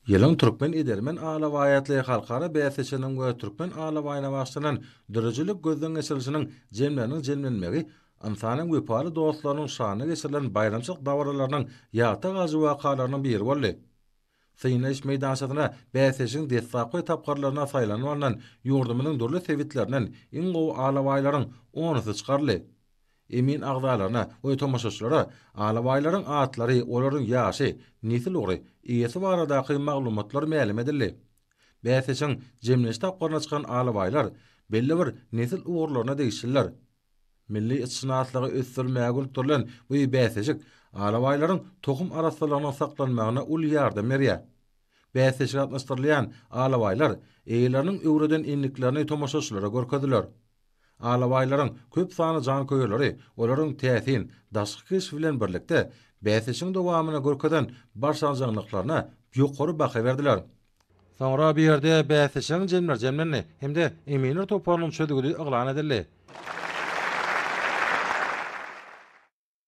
Ýylyň türkmen edermen alabaýatly halkara bäsleşiginiň we Türkmen alabaýyna bagyşlanan döredijilik gözden geçirilişiniň jemleriniň jemlenmegi ynsanyň wepaly dostlarynyň şanyna geçirilen baýramçylyk dabaralarynyň ýatda galyjy wakalarynyň biri boldy. Synlaýyş meýdançasyna bäsleşigiň deslapky tapgyrlaryna saýlanyp alnan ýurdumyzyň dürli sebitlerinden iň gowy alabaýlaryň onusy çykaryldy. Emin agzalaryna we tomaşaçylara alabaýlaryň atlary, olaryň ýaşy, nesil ugry, eýesi baradaky maglumatlar mälim edildi. Bäsleşigiň jemlenç tapgyryna çykan alabaýlar belli bir nesil ugurlaryna degişliler. Milli itşynaslygy ösdürmäge gönükdirilen bu bäsleşik alabaýlaryň tohum arassalygynyň saklanmagyna uly ýardam berýär. Bäsleşige gatnaşdyrylýan alabaýlar eýeleriniň öwreden endiklerini tomaşaçylara görkezdiler. Alabaýlaryň köp sanly janköýerleri olaryň täsin daşky keşbi bilen birlikde, bäsleşigiň dowamynda görkezen başarjaňlyklaryna ýokary baha berdiler. Soňra bu ýerde bäsleşigiň jemleri jemlendi hem-de eminler toparynyň çözgüdi yglan edildi.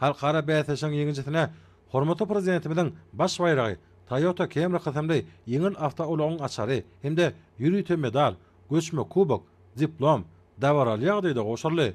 Halkara bäsleşigiň ýeňijisine hormatly Prezidentimiziň Baş baýragy, Toyota Camry kysymly ýeňil awtoulagyň açary hem-de ýörite medal, göçme kubok, diplom dabaraly ýagdaýda gowşuryldy.